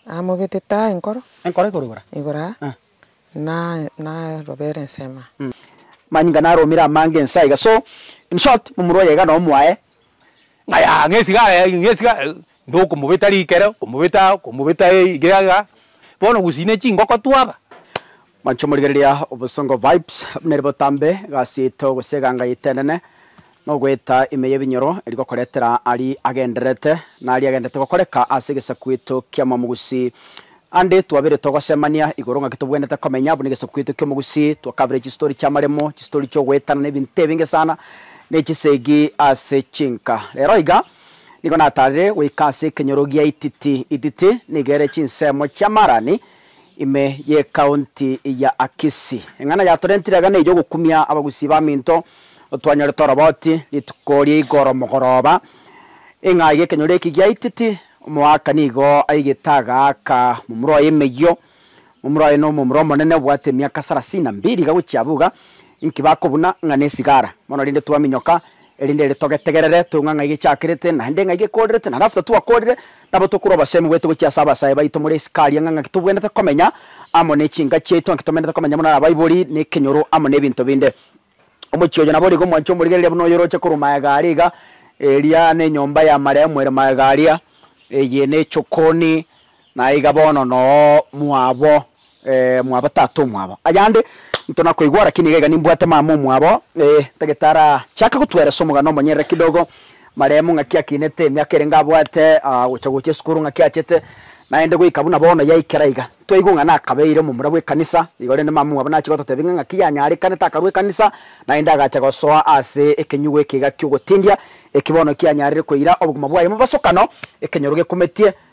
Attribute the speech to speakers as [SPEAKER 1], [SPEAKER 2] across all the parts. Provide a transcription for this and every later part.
[SPEAKER 1] Amobetete aa enkoro. Enkoro igoro igoro aa.
[SPEAKER 2] Igoro aa. Eh.
[SPEAKER 1] Na, na robera ensemo aa. Mm. Manyinga
[SPEAKER 2] naromire amange ense aiga so in short momura oye iga nomo aye. Ng'aya
[SPEAKER 3] ng'a esigara ya ng'a esigara ndo okomobeta rikere okomobeta okomobeta iga iga bono gusina chingoko twaba. Mwanche morigereria
[SPEAKER 2] obosongo vibes buna eri botambe egasi yaito gose eganga yaito enene nogoeta ime y'ebinyoro eri gokoretera ari agendererete na ari agendererete gokoreka ase egesaku yaito ki'omomugusi ande twabire togosemania igoro ng'aki tobwenerete komenya buna egesaku yaito ki'omogusi twakabire chistori chi'amaremo chistori chi'ogoetana na ebinto ebinge sana ne chisegi ase chinka rero iga nigo natarire goika ase ekenyoro gi'aititi ititi nigo ere chinsemo chi'amarani Ime y'Ekaunti ya Akisi. Eng'ana yatorentire iga neyio ogokumia abagusi baminto twanyorete oroboti rituko ria igoro mogoroba ing'a iga ekenyoro eki giaiteti omoaka nigo aigete agaaka omomura oye emeyio omomura oye nomomura omonene obwate emiaka sarasini na mbiri iga gochia abwo iga inki bakobuna ng'a nesigara mono rinde twaminyoka Erinde ere togetegerere, toing'a ng'a igechakerete, naende ng'a igekorerete, naende after twakorire, nabo tokorwa abasemi goeta gochia ase abasae baito more isiko aria, ng'a ng'aki tobwenerete komenya amo nechinka chiaito, ng'aki tomenerete komenya buna abaibori, nekenyoro, amo nebinto binde. Omochie oyo naborigo omwancha omorigereria buna oyoroche korwa magega aria iga, eria nenyomba y'amarehemu ere magega aria, eye nechokoni Na aiga bono noo mwabo, ee, mwabo tata omwabo. Ayande ntonakoigwa, lakini iga iga nimbwate mama omwabo. Ee, tagete arachake gotweresa omogano omonyerere kidogo, maremu, ng'aki akinete, emiaka erenge abwate, aa, gocha gocha esukuru, ng'aki achete, naende goika buna bono yaikera iga. Twaigwa ng'a nakabeire omomura bw'ekanisa, igo rende mama omwabo nache gototebia ng'a ng'aki yanyarekanete akarua ekanisa, naende agacha gosoa ase ekenyugo eke iga ki'ogotindia, eki bono kianyarire koira obogima bwaye bobosokano, ekenyoro gekometie,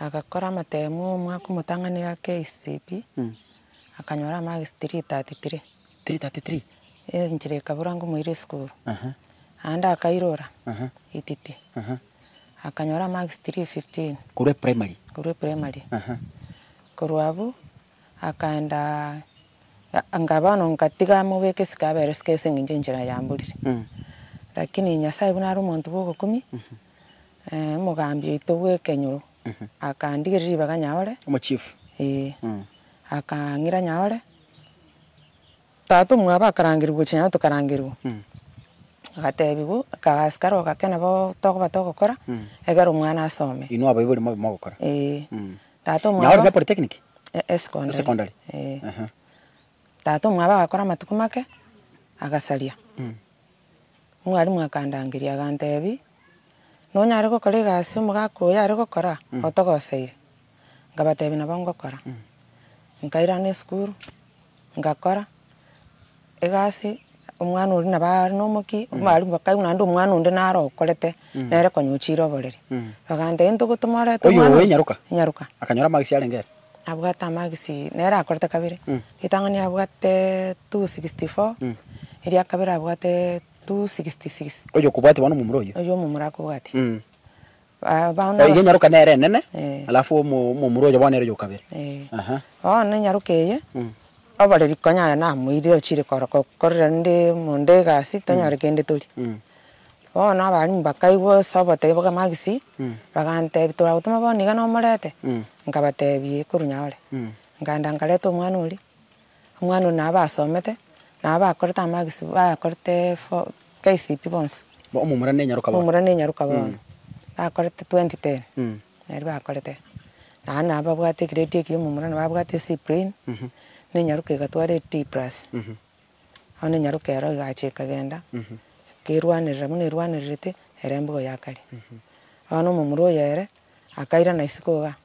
[SPEAKER 1] Agakora amatemu omwaka omotang'ani ga KCB, akanyora amarks 333.
[SPEAKER 2] Enchera
[SPEAKER 1] ekabura ngomoira esukuru. Aande akairora ititi, akanyora amarks 315. Korwa eprimary?
[SPEAKER 2] Korwa eprimary.
[SPEAKER 1] Korwa abwo akaenda, anga bono ngatiga amobeka esiko abera esiko ase eng'encho enchera yamburire. Lakini Nyasae buna are omonto bw'ogokumia. Omogambi oito bw'ekenyoro akandigeria ribaga nyaore, Omochief. ee,
[SPEAKER 2] akang'ira
[SPEAKER 1] nyaore, tata omwabo akarangerigwa gochia nyaore tokarangerigwa, agatebiwa abasikari ogakena bo tokoba togokora, egera omwana asome. Inwe abaibori bori mobe mogokora.
[SPEAKER 2] Ee, Mm. tata
[SPEAKER 1] Nyaore omwabo, ne polytechnic? e-
[SPEAKER 2] e secondary. Secondary.
[SPEAKER 1] Ee. Aha. Tata omwabo agakora amatuko make, agasaria. Omwalimu akandangeria, aganteebia, Nonyare gokora egasi omogaka oyo are gokora? Otogoseye. Nkabateebia, Nabo ngokora. Nkairana esukuru, ngakora egasi, omwana oria nabo are nomokia, omwalimu bakaigwa naende omwana onde naro okorete, nere konya ochire oboreri. Baganteebia, Ntogotomorete omwana oyo. Oyo oe nyaroka?
[SPEAKER 2] Nyaroka. Akanyora magisi arenge ere? Nabwate amagisi
[SPEAKER 1] nere akorete kabere, ritang'ani abwate two sixty four, eria kabere abwate two sixty six. Oyo okobwatia bono omomura
[SPEAKER 2] oyio. Oyio omomura akobwatia.
[SPEAKER 1] Mm.
[SPEAKER 2] Ba- bono Eye abas- nyaroka nere enene, Eh. alafu omo- omomura oyo bono ere oyokabere. Eh. Aha. Bono enyaroka eye, Mm. oboreri konya aye namoirire ochire koro- ko- korera rende monde egasi, tonyore kende toria. Mm. Bono abarimu bakaigwa ase obotebia bwa magisi, bagantebia, Toragotoma bono iga nomorete? Nkabatebia, Ee, korwa nyore. Nkaenda nkareta omwana oria, omwana oria nabo basomete, nabo bakorete amagisi, bakorete form, KCPE bonsi. Omomura nenyaroka bono. Omomura nenyaroka bono,
[SPEAKER 1] bakorete twenty ten, naria bakorete. Naye nabo babwate egrade ekiya omomura nabo abwate C plain, nenyaroka egatwara A D plus. Bono enyaroka ero egacha ekagenda, ekerwanerera, buna erwanererete ere embugo ya kare. Bono omomura oyo ere akairana isiko igaa,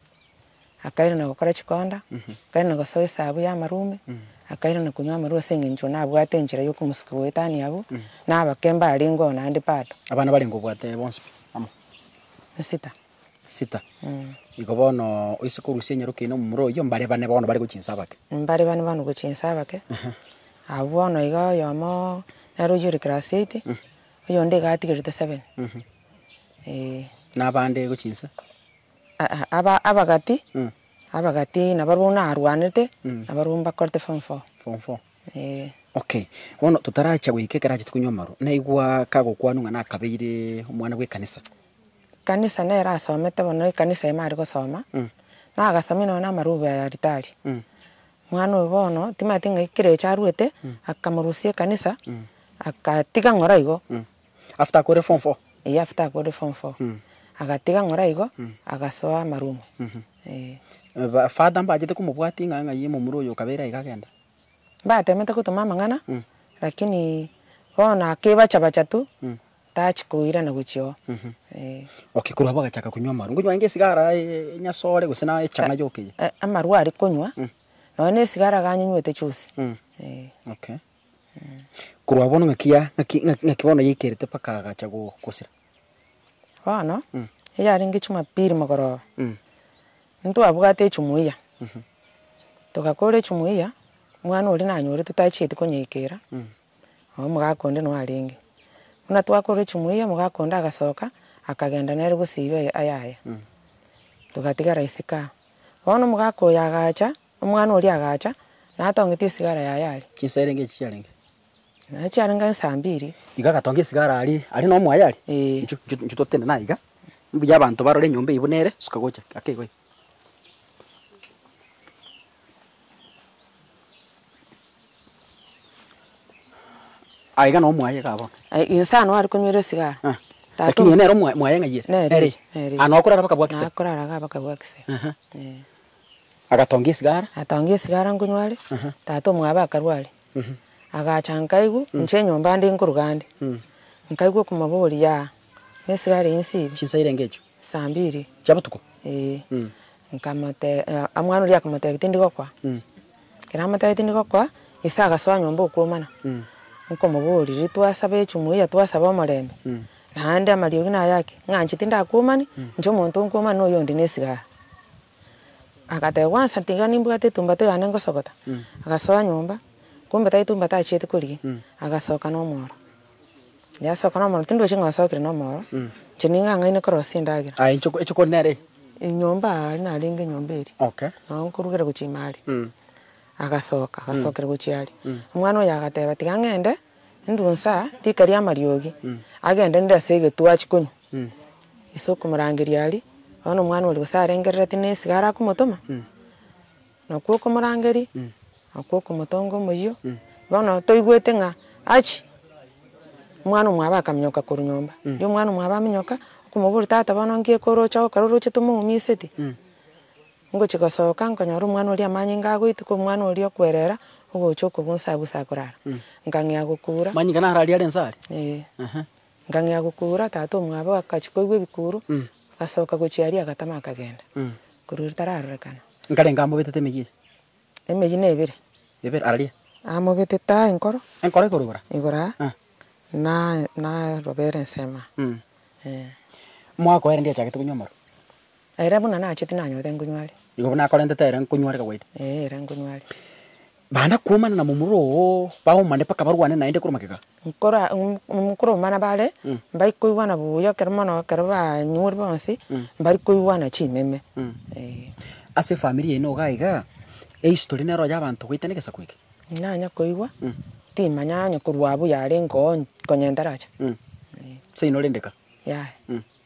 [SPEAKER 1] akairana gokora chikonda, akairana gosoa esabu ya amarume, akairana konywa amarwa ase eng'encho nabwate enchera ya okomosukia goetania abwo na abakemba arenge oo naende bado. Abana barenge obwate
[SPEAKER 2] bonsi pi? Amo. Esita. sita, igo bono oise korusia enyaroki yaino momura oyio, mbare bane bono bare gochia inse abake. Mbare bane bono gochia
[SPEAKER 1] inse abake, abwo bono iga oyomo nere oyio ore class eight, oyonde iga atigerete seven, eeh.
[SPEAKER 2] Na abande gochia inse? Aa aba abagati,
[SPEAKER 1] abagati nabarobwo buna arwanete, nabarobwo mbakorete form four. Form four? Eeh. Okay,
[SPEAKER 2] bono totarachia goika ekero achete konywa amarwa, naigwa kagokwanwa ng'a nakabeire omwana bw'ekanisa. Ekanisa nere asomete
[SPEAKER 1] bono ekanisa ime are gosoma, nagasomia nonya na amarubi aya aritari. Omwana oyo bono timanyeti ng'a kera echo aruete, akamorusia ekanisa, agatiga ng'ora igo. After akore
[SPEAKER 2] form four? Eeh after akore form four.
[SPEAKER 1] Agatiga ng'ora igo, agasoa amarumu, eeh. Ba father
[SPEAKER 2] mbachete komobwatia ng'a ng'ai omomura oyo okabeire aiga agenda? Mbatemete
[SPEAKER 1] gotoma amang'ana, lakini bono akebacha bacha tu, Taachi koirana gochia oo. Eh. Okay,
[SPEAKER 2] korwa abwo agachaka konywa amarwa. Nkonywa aye esigara, enyasore gose na echang'aa yokiya? Eh, amarwa aria konywa,
[SPEAKER 1] nonya na esigara iga anyinywete chionsi. Eh.
[SPEAKER 2] Okay. Korwa bono ng'aki ya, ng'aki, ng'aki bono yaikerete mpaka agacha go, gosira?
[SPEAKER 1] Bono, eyarenge chumapiri mogoroba, ntwabwate echumuiya, togakora echumuiya, mwana oria nanyorete tachieti konyeikera, Nabo omogaka onde noyo arenge. Buna twakorire chimuya omogaka onde agasoka akagenda nere gosiba ayaya. Togatigara esikara. Bono omogaka oyo agacha, omwana oria agacha natongeti esigara yaye are. Chinsa erenge echi chiarenge?
[SPEAKER 2] Naye
[SPEAKER 1] chiarenge insa mbiri. Igo agatonga esigara
[SPEAKER 2] aria aria nomoyo are. Inchuo, inchuo, inchuo totende naiga. Mbuya abanto barore enyomba eyio buna ere, suka gocha ake igo iga. Ah, iga nabo mwaye igaa bono. Ai, inse ano are konywera
[SPEAKER 1] esigara. Ah, Tata lakini ere nere
[SPEAKER 2] omwa- mwaye ng'ai ere? Nere Ere eye, eye? nere Ah, eye. nao
[SPEAKER 1] korara bakabua
[SPEAKER 2] kise? Nakorara iga bakabua kise.
[SPEAKER 1] Aha. Eh.
[SPEAKER 2] Agatongia esigara? Atongia esigara nkonyware,
[SPEAKER 1] Aha. tata omwabe akarware. Mhm. Agacha nkaigwa, inche enyomba ande nkoruga ande. Mm. Nkaigwa okomoboria, yaah, nesigara eye nsibe? Chinsa irenge echio? Saa
[SPEAKER 2] mbiri. Chia
[SPEAKER 1] botuko? Ee.
[SPEAKER 2] Mm. Nkamote,
[SPEAKER 1] omwana oria akamotebia tindi gokwa. Mm. Ekero amotebia tindi gokwa, Yeso agasoa nyomba okwomana. Mm. Nkomoboria, Twasabe echumuya ya twasabe omorembe? Mm. Naende amariogi naye ake, ng'a nchitinde akwomani, inche omonto nkwomani na oyonde nesigara. agateba kwansa tiga nimbwate etumbate yane ngosogota, agasoa nyomba, kumbe tari etumbate achiete korigia, agasoka na omoro. Yasoka na omoro tindochi ng'a osokire na omoro, inche ning'ang'aine korosia endagera. Aye inche inche kore nere?
[SPEAKER 2] Enyomba aa
[SPEAKER 1] narenge enyomba eria, Okay. nabo nkorugera
[SPEAKER 2] gochia ime
[SPEAKER 1] aria. Agasoka, agasokera gochia aria. Omwana oyo agateba tiga ng'ende. Endunsa rika ri'amariogi, agendererire ase egetuo achie konywa, ase okomorangeria aria, bono omwana oria gose arengerereti na esiko arakomotoma, nakwo okomorangeria, nakwo okomotonga omoyio, bono toigwete ng'a achie, omwana omwabo akamenyoka korwa nyomba, riria omwana omwabo amenyoka, okomoboria tata bono nki ekero oroche gokora orochete omoumiseti. Ngochia gosoka, nkonyora omwana oria amanyinga agoituka, omwana oria okwerera, ogocha okobua nse abwo ase akorara. Nkang'ea gokuura. Amanyinga naro aria are nse aria?
[SPEAKER 2] Ee. Ehe.
[SPEAKER 1] Nkang'ea gokuura, tata omwabe agachia koigwa ebikuuru, agasoka gochia aria agatama akagenda. Korwa riria tararorekana. Nkarenge amobetete
[SPEAKER 2] emeyia eye? Emeyia na
[SPEAKER 1] ebere. Ebere, araria?
[SPEAKER 2] Amobetete
[SPEAKER 1] aa enkoro. Enkoro igoro igoro aa? Igoro
[SPEAKER 2] aa. Eeh.
[SPEAKER 1] Na, na, na robere ensemo aa. Eeh. Mwaka
[SPEAKER 2] oye rende achagete konywa amarwa? Na ere buna
[SPEAKER 1] nacheti nanyore nkonywa are. Igo buna akorentete ere
[SPEAKER 2] nkonywa are kawaida. Ee, ere nkonywa are.
[SPEAKER 1] Bana
[SPEAKER 2] kuomana na momura oo, baomane mpaka barwane naende korwa magega. Nkora,
[SPEAKER 1] mm, koromana bare, mbari koigwana buya ekero mono ekero banyure bonsi, mbari koigwana chimeme. Ee.
[SPEAKER 2] Ase efamiri yaino iga iga, ehistory nero ya abanto goetania egesaku eke? Nanya koigwa,
[SPEAKER 1] timanya onye korwa abwo yarenge oo, konya entaracha. Ee.
[SPEAKER 2] Seino rende ka. Yaya.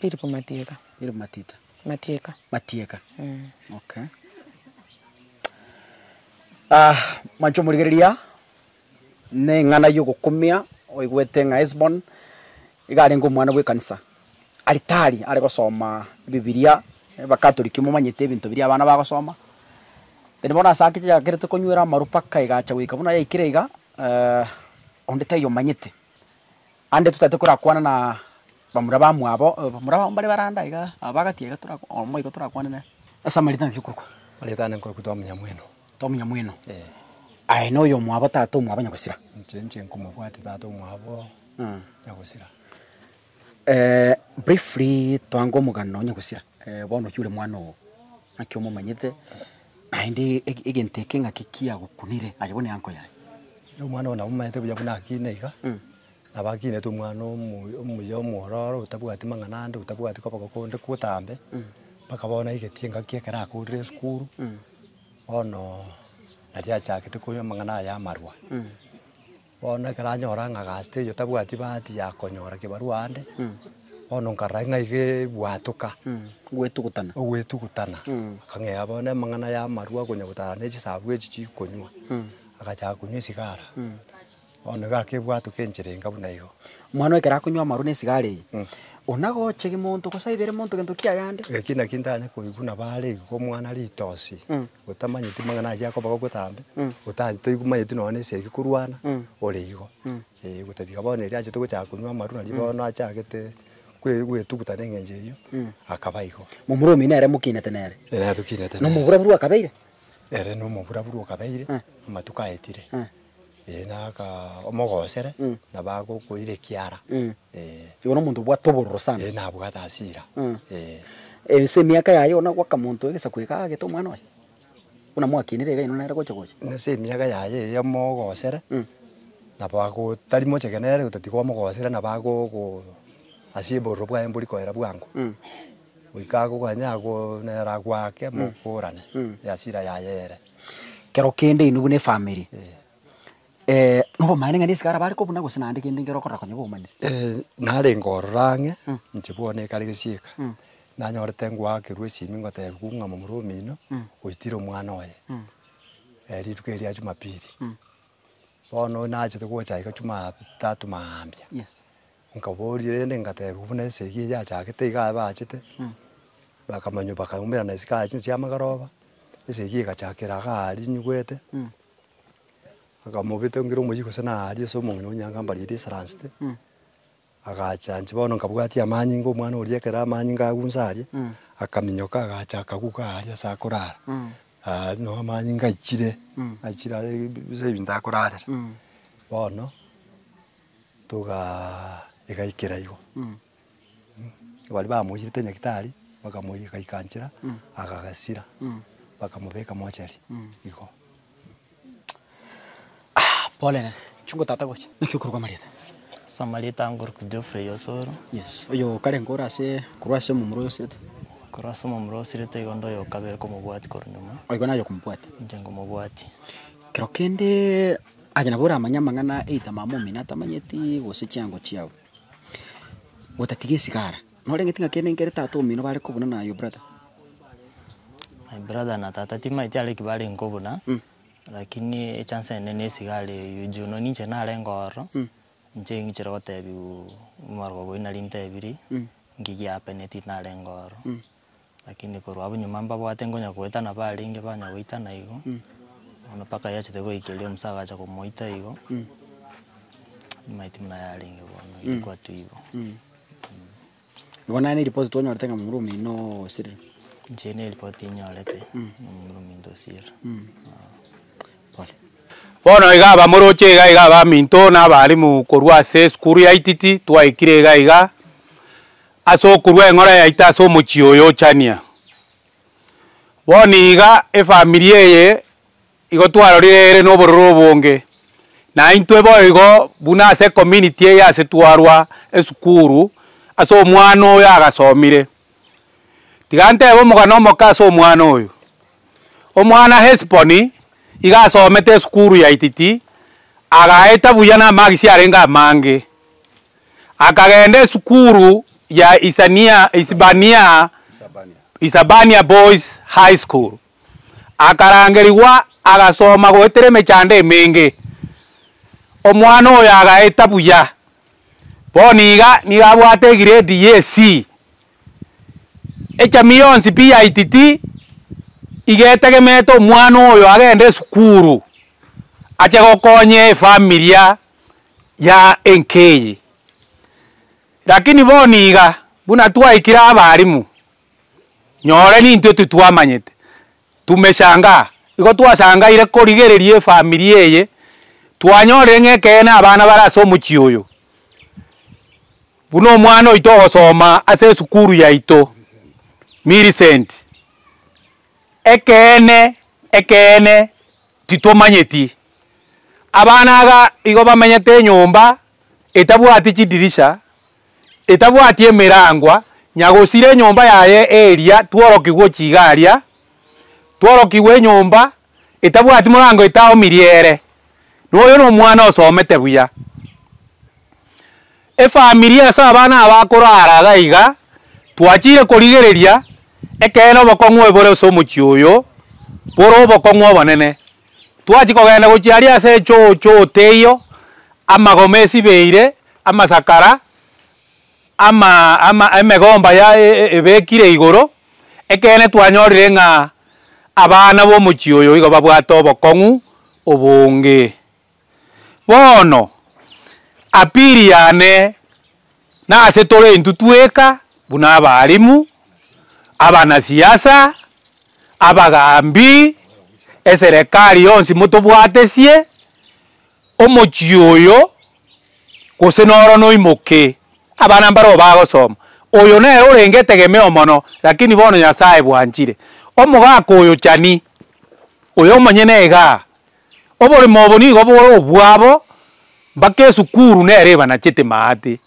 [SPEAKER 2] Philip
[SPEAKER 1] Matieka.
[SPEAKER 2] Philip Matita.
[SPEAKER 1] Matieka. Matieka.
[SPEAKER 2] Mm. Okay. Ah, mwancho morigereria neng'ana yogokumia oigwete ng'a Esbon iga arenge omwana bw'ekanisa aritari are gosoma ebibiria abakatoliki momanyete ebinto biria abana bagosoma then bono ase ake yakerete konywera amaru mpaka egacha goika buna yaikire iga eh, onde taiyo omanyete Ande totaete korakwana na bamura bamwabo, bamura babo mbare baranda iga, aba bagatia iga tora oo mboigo torakwane nere. Ase amarita naki okorokwa? Amarita ane nkorokwa
[SPEAKER 4] Twamonyamweno. Twamonyamweno.
[SPEAKER 2] Ee. Aye na oyomwabo tata omwabo nyagosira? Inche inche nkomobwate
[SPEAKER 4] tata omwabo nyagosira.
[SPEAKER 2] briefly toange omogano nyagosira, bono oyio ore mwana oo, naki omomanyete? Naende egento eke ng'aki kiagokunire, aye buna enko yaye. Na omwana ogo nabo
[SPEAKER 4] omanyete buya buna akina iga, nabo akinete omwana omoyo omuya omwororo otabwati mang'ana ande, otabwati koba gokonde gotambe, mpaka bono aigeti engaki ekero akoorire esukuru, bono nari achagete koigwa amang'ana aye amarwa. Bono ekero anyora ng'a Agasito oyio tabwati bahati ya konyora kebarua aande, bono nkarora ng'a iga ebwatoka Gwetugutana. ogwetugutana. Akang'ea bono amang'ana y'amarwa konya gotara ne chisaabwa echi chikonywa, agachaka konywa esigara. Bono iga akebwatoka enchera enga buna igo. Omwana oye ekero akonywa
[SPEAKER 2] amarwa na esigara eye, o nagocha egemonto gose aibere monto egento kiagende. Eki naki ntanye koigwa
[SPEAKER 4] na bare igo omwana ritosi, otamanyeti mang'ana aye akoba gotambe, ota toigumanyeti nonye na esegi korwana, ore igo. Ee gotebia bono erio achete gochaka konywa amarwa nario bono achagete kwe- gwetuguta na eng'encho eyio, akaba igo. Momura omino ere
[SPEAKER 2] mokinete nere. Ere tokinete nere. Nomoburaburu
[SPEAKER 4] akabeire.
[SPEAKER 2] Ere nomoburaburu
[SPEAKER 4] okabeire, amatuko aetire. Ee nakaa omogosere Mm. na bagokoira ekiara Mm. ee Igo
[SPEAKER 2] nomonto obwate obororo sana. ee nabwate hasira
[SPEAKER 4] Mm.
[SPEAKER 2] ee. Ase emiaka yaye igo nagoaka monto egesaku eke aagete omwana oye? Buna mwakinire iga inwe nere gocha gocha? Ase emiaka yaye
[SPEAKER 4] eye omogosere Mm. nabo ago tari mocheke nere otatiga omogosere nabo agogo ase obororo bwaye mbori koera bwango. Mm. Goika akoganya agoonera agwake mokorane easira yaye ere. Kero kende
[SPEAKER 2] inwe buna efamiri nobomanenani esike arabare kobuna gose naende kende nkere okorora konya bomaniri? Ee, narenge
[SPEAKER 4] ororo ang'e inche bono ekare gesieka nanyorete ngoakerwa esimi ngotebiwa ng'a momura omino oitire omwana oye rituko eri ria jumapili. Bono nachete gocha iga jumatatu mambia. Nkabooria rende ngateba, Buna esegi eye yachakete iga aye baachete, bakamanywa bakaumerana isiko aya chinse chi'amagaroba, esegi egachakera iga aaria inyugwete, akamobeta ngire omoyio gose naaria ase omong'ina o Nyagambari eria esaransete, agacha inche bono nkabwatia amanyinga omwana oria ekero amanyinga agwo inse aria, akaminyoka agacha akagwa iga aaria ase akorara, aaria noo amanyinga aichire, aichire aye ase ebinto akorarera. Bono. Togaegaikera igo, baria bamoicherete nyagetari, bakamoiyeka agaika nchera, akagasira, bakamobeka mochari igo. Pole nene, chungo tata gocha. Naki okorokwa Marieta? Ase Marieta
[SPEAKER 5] ngorokwa Geoffrey Osoro. Yes, oyo okarengo
[SPEAKER 2] ore ase, korwa ase omomura oyo osirete? Korwa ase omomura
[SPEAKER 5] osirete igo nde oyokabere komobwati korwa nyuma. Oigo naye okomobwati?
[SPEAKER 2] Inche ngomobwati.
[SPEAKER 5] Kero kende
[SPEAKER 2] Aye nabo oramanye amang'ana a ebitamama omino atamanyeti, gose chiango chiao, otatiga esigara. Noreng'eti ng'a kende nkere tata omino bare kobuna na your brother?
[SPEAKER 5] My brother na tata timaeti are eki bare nkobuna, lakini echance ende ne esigara eyio juu nonye ninche narenge ororo, inche ing'ichire gotebiwa omobarogo obo inari ntebirie, ng'aki giapeneti narenge ororo. Lakini korwa abwo nyuma mbabwate nkonya goetana barenge banya goitana igo, bono mpaka yachete goikeria omosae agacha komoita igo, amaiti buna yarenge bono igo twatwa igo. Igo
[SPEAKER 2] nere ripoti twanyorete ng'a momura ominto noo osirire. Inche ne ripoti
[SPEAKER 5] nyorete ng'a momura ominto osirire. Pole.
[SPEAKER 3] Bono iga abamoroche iga iga abaminto na abalimu korwa ase esukuru ya Ititi twaikire iga iga, Ase okorua eng'ora yaito ase omochie oyo ochania, bono iga efamiri eye igo twarorire ere nobororo obonge, naintwe boigo buna ase ecommunity eye ase twarwa esukuru ase omwana oyo agasomire. Tiga ntebe omogano omoke ase omwana oyo, omwana Hesboni iga asomete esukuru yaititi, agaeta buya na amarks arenge amange. Akagenda esukuru ya Isabania Boys High School, akarangerigwa agasoma goetera emechando emenge. Omwana oyo agaeta buya, bono iga nigo abwate egrade ye C. Echami yonsi pi ya Ititi iga etegemete omwana oyo agende esukuru ache gokonya efamilia. ya enka eye. Lakini bono iga, buna twaikire abalimu, nyore nintwe titwamanyete, tumeshangaa. Igo twasangaire korigereria efamiri eye, twanyorire ng'a ekeene abana bare ase omochie oyo, buna omwana oito ogosoma ase esukuru yaito, Millicent, ekeene, ekeene. Titomanyeti. Abana aga igo bamenyete enyomba etabwati chidirisha, etabwati emerangwa, nyagosira enyomba yaye eria tworokigwe ochiga aria, tworokigwe enyomba etabwati morango etaomirie ere, noyo nomwana osomete buya. Efamiri ase abana abakoro araga iga, twachire korigereria ekeene obokong'u ebore ase omochie oyo bore obokong'u obonene. Twachia kogenda gochia aria ase echoo choo teiyo, amagoma esibeire, amasakara, ama ama emegomba ya ebekire igoro, ekeene twanyorire ng'a abana bomochie oyo igo babwate obokong'u obonge. Bono, appeal yane nase tore intwe tweka buna abaalimu, abanasiasa, abagaambi, eserekari yonsi motobwatesie omochie oyo gose noro noimoke abana mbareo bagosoma. Oyo nere orenge etegemeo mono lakini bono Nyasaye bwanchire omogaka oyo chani, oyo omonyene igaa Oborimo obo nigo bore obwabo mpaka esukuru nere ebanachete maate.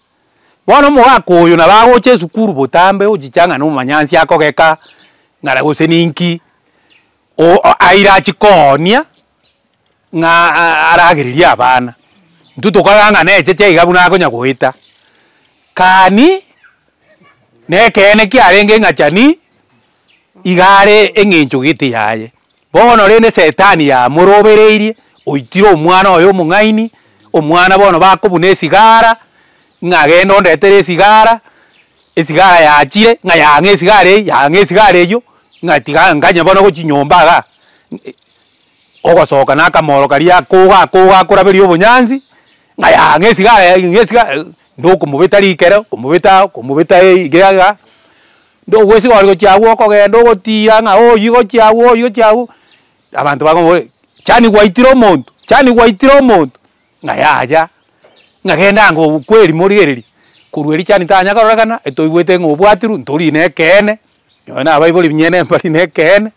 [SPEAKER 3] Bono omogaka oyo nabo agocha esukuru botambe ochicha ng'a nomonyansi akogeka ng'ara gose ninki aire achie koonia ng'a aragererie abana. Intwe tokarora ng'a necheche iga buna akonya goeta. Kani nekeene kiarenge ng'achani. igare engencho gete yaye. Bono rende setani yamorobereirie, oitire omwana oye omong'aini, omwana bono bakobuna esigara, ng'a genda ondetere esigara, esigara yachire, ng'a yang'e esigara eyio, yang'e esigara eyio, ng'a tiga nganye bono gochia nyomba igaa, ogosoka nakamoro karia akoga akoga akoraberia obonyansi, Ng'aya ng'esiga ng'aya ng'esiga ndokomobeta rikero, komobeta komobeta iga iga, ndogwesiga ore gochia agwo okogenda ogotiira ng'a oyio gochia agwo oyio gochia agwo, abanto bakomoboria chani gwaitire omonto chani gwaitire omonto, ng'a yaya, ng'a genda ango obu kwerimo rigereria, korwa erio chani tanya kororekana etoigwete ng'a obwatirwe ntori nekeene. Nonya nabaibori binyene mbari nekeene,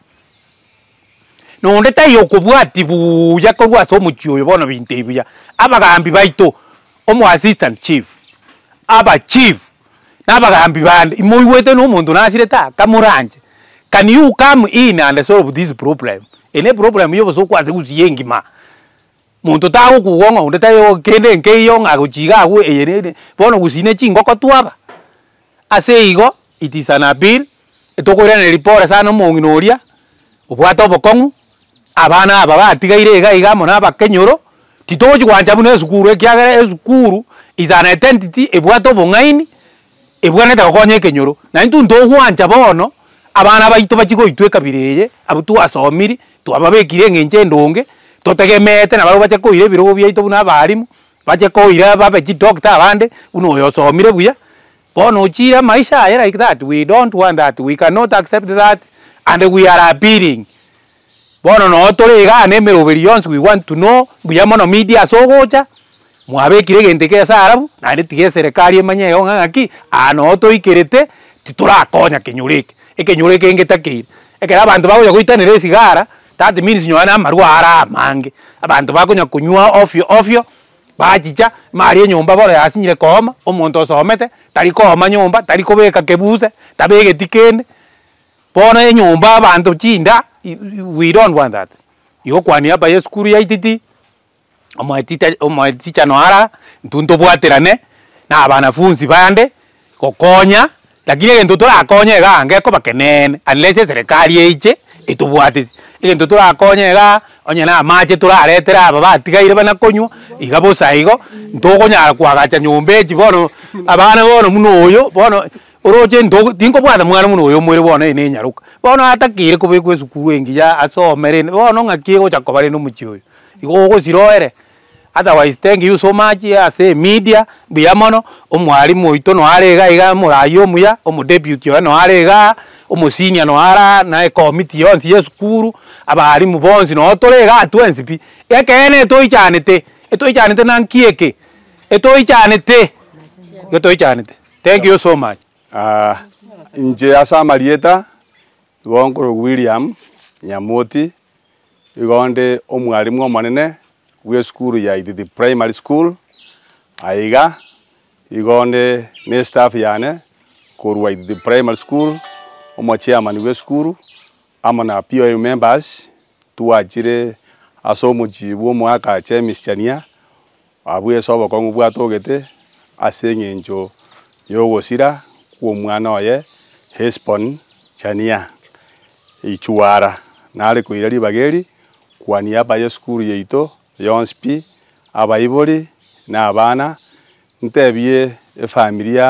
[SPEAKER 3] na onde taiyo okobwatia buya korwa ase omochie oyo bono bintei buya. Abagaambi baito, omo assistant chief, aba chief, na abagaambi bande imoigwete na omonto nasirete aa kamoranche, can you come in and solve this problem? Eye ne problem ya obosokwa ase gusii engima, monto tagokugwa ng'a onde taiyo kende nkeiyo ng'a gochia iga agwo eye ne bono gusii ne chingoko twaga. Ase igo it is an appeal tokoiraneria pore sana omong'ina oria obwate obokong'u, abana aba batigaire iga iga amo nabakenyoro, titogochi gwancha buna esukuru ekiagera esukuru is an identity ebwate obong'aini, ebwenerete gokonya ekenyoro. Naintwe ntogwancha bono abana baito bachie goitwa ekabira eye abwo twasomiri twababekiri eng'encho endonge totegemeete nabarabwo bache koira ebirogo biaito buna abalimu. Bache koira babe chidoctor abande buna oyo osomire buya bono ochiire amaisha aye like that we don't want that we cannot accept that and we are appealing bono noo tore igaa na emeroberi yonsi we want to know buya mono media ase ogocha mwabekire egento eke esaarabu naende tiga eserekari emanye ego ng'a ng'aki aa noo toikerete titorakonya kenyoro eke ekenyoro eke getakeire ekero abanto bagocha goitanera esigara. That means nyowe na amarwa are amange abanto bakonya konywa ofyo ofyo bachicha maria enyomba bono yasinyire kooma omonto osomete tari kooma nyomba tari kobeka kebuse tabegeti kende bono enyomba abanto chinda we don't want that igo kwania hapa ya esukuru yaititi. omotichano ara intwe ntobwaterane na abanafunsi bande gokonya lakini egento torakonye igaa iga ekobakeneene unless eserekari eiche etobwatisi egento torakonye igaa onye na amache toraretere aba batigaire bana konywa iga bosa igo ntokonyara koagacha nyomba echi bono abana bono buna oyo bono oroche into tinkobwata mwana buna oyo omore bono ere na enyaroka bono atakire kobekwa esukuru engiya asome rende bono ng'aki egocha koba rende omochie oyo. Igo ogosiroere, otherwise thank you so much ase emedia, mbuya mono, omwalimu oito noo are iga iga, omoraia omuya, omodeputy oye noo are igaa, omosenior noo are aa, na ecommity yonsi ya esukuru, abalimu bonsi noo tore igaa twensi pi. Ekeene etoichanete, etoichanete na nki eke? Etoichanete, igo toichanete. Thank you so much. Aah
[SPEAKER 6] inche ase amarieta, igo nkorokwa William Nyamoti. Igo nde omwalimu omonene bw'esukuru ya Ithithi Primary School. Aye iga igo nde n'estaff yane korwa Ithithi Primary School, omochairman bw'esukuru amo na POM members twachire ase omochie bw'omoaka ch'emesichania Abwo Yeso obokong'u bwatogete ase engencho y'ogosira kw'omwana oye Hesbon chania eichuara, nare koira ribaga eri, kwania aba y'esukuru yaito yonsi pi, abaibori na abana, ntebie efamiri ya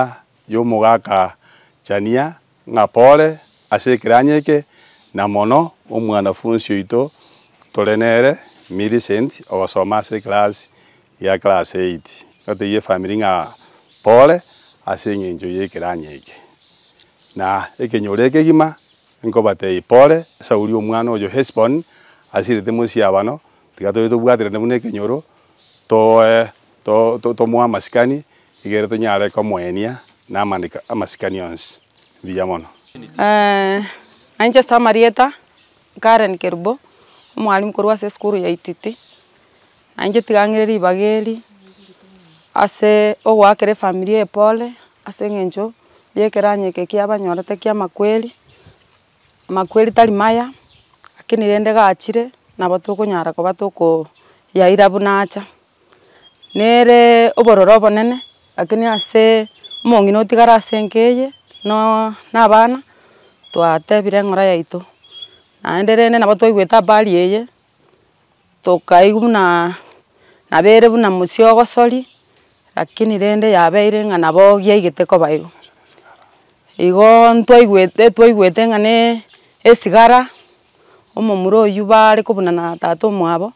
[SPEAKER 6] y'omogakachania ng'a pore ase ekeranyo eke, na mono omwanafunsi oito tore nere, Millicent, ogosoma ase ekerasi ya class eight, gatebia efamiri ng'a pore ase eng'encho y'ekeranyo eke. Na ekenyoro ekegima nkobatebia pore, Sauli omwana oyo Hesiboni asirete mosiabano, tiga tobe tobwaterane buna ekenyoro, tooe Tomoe amasikani, igere tonyare komoenia namandiko amasikani onsi. Mbuya mono.
[SPEAKER 7] Nainche ase amarieta, Karen Kerubo, omwalimu korwa ase esukuru ya Ititi. Nainche tiga ng'ire ribaga eri, ase ogoakera efamilia eye pore, ase eng'encho yekeranyo eke kiabanyorete kia amakweri, amakweri tari maya, lakini rende gachire, nabo tokonyara koba tokoyaira buna acha. Nere obororo obonene, lakini ase omong'ina otigare ase enka eye, no- na abana, twatebire eng'ora yaito, naende rende nabo twaigwete habari eye, tokaigwa buna nabo ere buna musii ogosori, lakini rende yabeire ng'a nabo giaigete koba igo. Igo ntwaigwete twaigwete ng'a ne esigara, omomura oyio bare kobunana tata omwabo.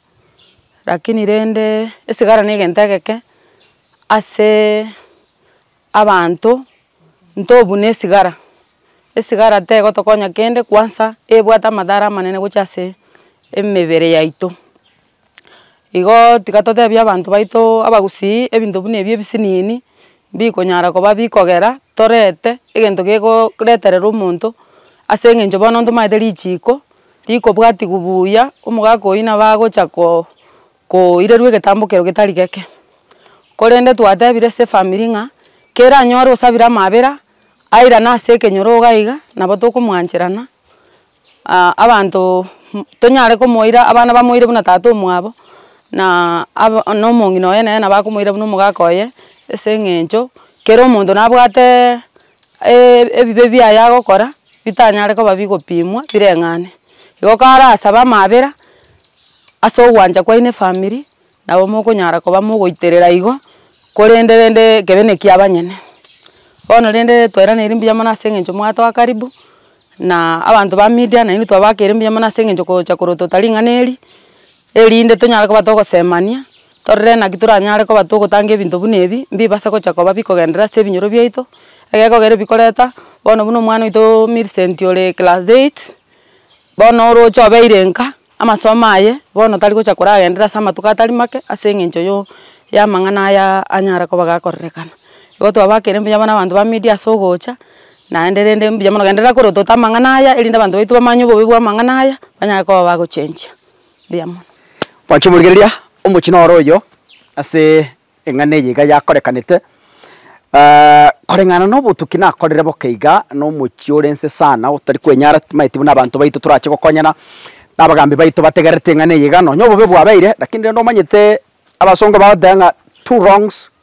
[SPEAKER 7] Lakini rende esigara ne egento egeke ase abanto ntobune esigara, esigara tegotokonya kende kwansa ebwate amadhara amanene gocha ase emebere yaito. Igo tiga totebie abanto baito abagusii ebinto buna ebi ebisinini bikonyara koba bikogera torete egento gegoreterera omonto ase eng'encho bono ntomanyete richiko. Tikobwatigwa buya, omogaka oyio nabo agocha ko koirerwa egetambo kero getari geke. Korende twatebire ase efamiri ng'a kere anyore osabire amabera, airane ase ekenyoroga iga, nabo tokomwancherana abanto tonyare komoira abana bamoire buna tata omwabo na aba na omong'ina oye nere nabo akomoira buna omogaka oye ase eng'encho kera omonto nabwate. ebibe biaye agokora bitanyare koba bigopimwa bireng'ane. Igo kare asabe amabera ase ogwancha kwaino efamiri nabo mokonyara koba mogoiterera igo korende rende ekebe ne kia abanyene. Bono rende toiraneiri mbuya mono ase eng'encho mwatoa karibu na abanto ba media naende twabakeire mbuya mono ase eng'encho gocha korotota ring'ana eri. Erinde tonyare koba togosemania, torore naki toranyare koba togotanga ebinto buna ebi, mbibase gocha koba bikogenderera ase ebinyoro biaito, egekogera ebikoreta, bono buna omwana oito Millicent ore class eight, bono oroche obeire nka, amasomo aye, bono tari gocha koragenderera ase amatuko atari make, ase eng'encho yo y'amang'ana aya anyare koba gakorerekana. Igo twabakire mbuya bono abanto ba media ase ogocha, naende rende mbuya mono genderera korwa otote amang'ana aya, erinde abanto baito bamanye obobe bw'amang'ana aya, banyare koba bagochengia. mbuya mono. Mwanche morigereria
[SPEAKER 2] omochie noro oyo ase eng'ana eye iga yakorekanete, koreng'ana na obotuki nakorire boka iga na omochie ore nse sana otari kwenyara timanyeti buna abanto baito torache gokonyana, na abagambi baito bategererete eng'ana eye iga nonya obobe bwabeire, lakini rende omanyete abasongo bagoteba ng'a two wrongs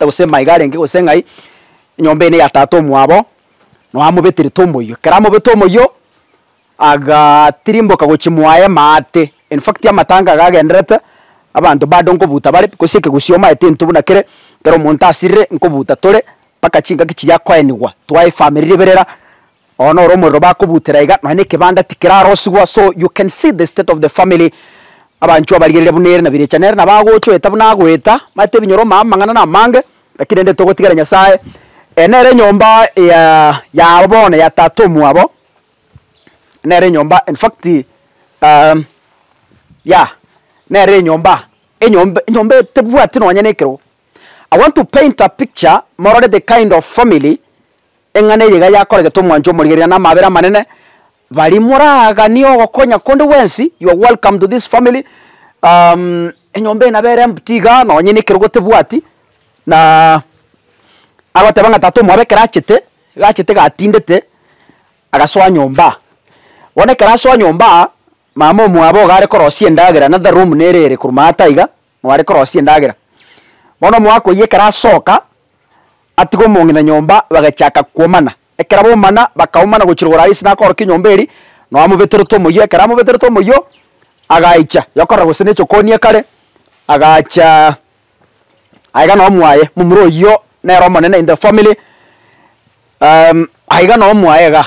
[SPEAKER 2] Gose maiga arenge gose ng'ai, enyomba eye neya tata omwabo, nao amobeterete omoyio. Ekero amobete omoyio, agatirimboka gochia mwaye maate, in fact amatanga iga agendererete, abanto bado nkobuta bare, gose ekegusii omaete intwe buna kere, ekero omonto asirire nkobuta tore, mpaka chingaki chiria akoenigwa, twaefamiri riberera. Oo noro omorero bakobutera iga nonya nekebanda tikerarosigwa so you can see the state of the family abanchwa abarigerire buna ere nabirecha nere nabo agocha oeta buna agoeta mate ebinyoro omanye amang'ana namange lakini rende togotigera nyasaye eye nere enyomba ya yabo bono ya tata omwabo nere enyomba in fact ya nere enyomba enyomba enyomba etebwati nonya nekerogo I want to paint a picture morore the kind of family. Eng'ana eye iga yakoregete omwancho omorigereria na amaabera amanene. Baria moraaganie ogokonya konde gwensi, you are welcome to this family. Um, enyomba eye nabere empty iga, nonye na ekerogo tebwati, na agoteba ng'a tata omwabo ekero achete, iga achete iga atindete, agasoa nyomba. Bono ekero asoa nyomba, mama omwabo iga are korosia endagera na the room nere ere korwa maata iga, Nobare korosia endagera. Bono omogaka oyio ekero asoka, atiga omong'ina nyomba, bagachaka kwomana. Ekero baumana, bakaumana gochia rogoro aye ase nakoorokia enyomba eria, nao amobeterete omoyio. Ekero amobeterete omoyio, agaicha yokorora gose ne chokoni ekare, agacha aiga nao mwaye, momura oyio nere omonene in the family, aiga nao mwaye igaa.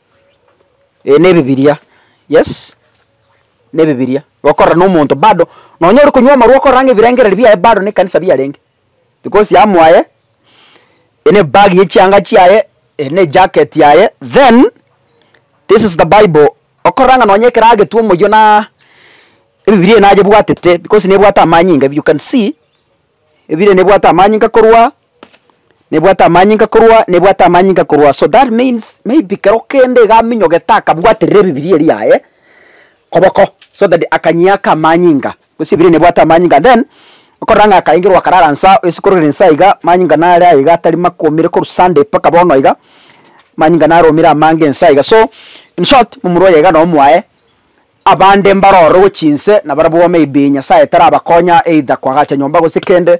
[SPEAKER 2] Ee nebibiria, yes, nebibiria gokorora na omonto bado nonye ore konywa amarwa okorora ng'a ebirengererio biaye bado na ekanisa biarenge, because amo aye ere nebag ya chianga chiaye, ere ne jacket yaye, then this is the bible okorora ng'a nonye ekero agetwa omoyio na ebibiria ebi nabwatete because nebwate amanyinga, you can see. Ebire nebwate amanyinga korwa nebwate amanyinga korwa nebwate amanyinga korwa so that means maybe kero kende iga aminyogete akabwaterera ebibiria eria yaye koboko so that akanyia ake amanyinga gose ebire nebwate amanyinga and then okorora ng'a akaengerwa akarara inse aa ase kororera inse aiga amanyinga nare aiga atari makwomire korwa Sunday mpaka bono iga amanyinga naromire amange inse aiga so in short momura oye iga nomoae. Abande mbarorogo chinse na barabwo maybe Nyasaye tarabakonya either kwagacha nyomba gose kende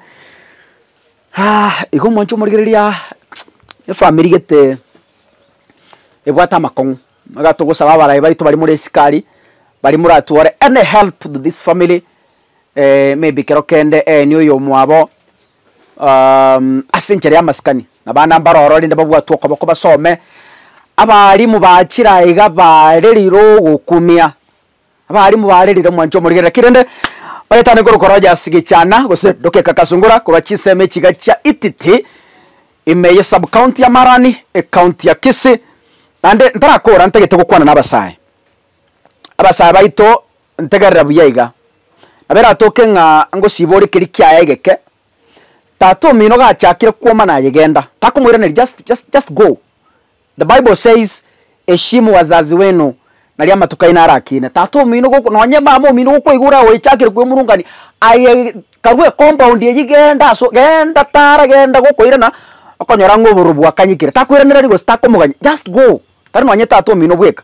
[SPEAKER 2] igo omonche omorigereria efamiri gete ebwate amakong'u iga togosaba abarai baito baria more esikari baria moratwore any help to this family maybe kero kende eeni oyomwabo Ase enchera y'amasikani na bana mbaroro rende babwatwe okoboko basome, abaalimu ba chira iga baarerire ogokumia, abaalimu baarerire omwancho omorige. Naki rende baretane korokwa roja ase gechaana gose dokeka kasungura korwa chinsemo echiga chia Ititi, ime ye sub-county ya Marani, ecounty ya Kisii. Naende ntarakoora ntagete gokwana nabasae. Abasae baito. Ntegerera buya iga. Nabo eratoke ng'a ngosiibora ekerii kiaye egeke, tata omino gachakire kwoma nayegenda. Takomoiraneria just just just go. The bible says heshimu wazazi wenu naria amatuko aino arakiine. Tata omino goko nonye mama omino gokoigwa oragoechakire kwemurungania aye karue ecompoundi eyio genda aso genda tara genda gokoirana okonyora ng'a oborobwo bwakanyekire. Takoiraneria gose takomogania just go. Tari nonye tata omino bweka.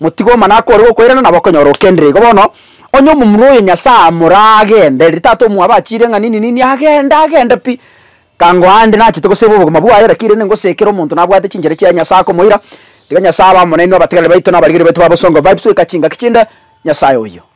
[SPEAKER 2] Motige omana ake ore gokoirana nabo okonyora okenire igo bono. Onye omomura oyo Nyasae amora agende, riria tata omwabo achiire ng'a nini nini agende agende pi. Kango aande nachete goseba obogima bwaye naki rende ngosekere omonto nabwate chinchera chiaye Nyasae akomoira. Tiga Nyasae abe amo nainwe abategereri baito na abarigereria baito ba Bosongo Vibes goika chingaki chinde. Nyasae oyio.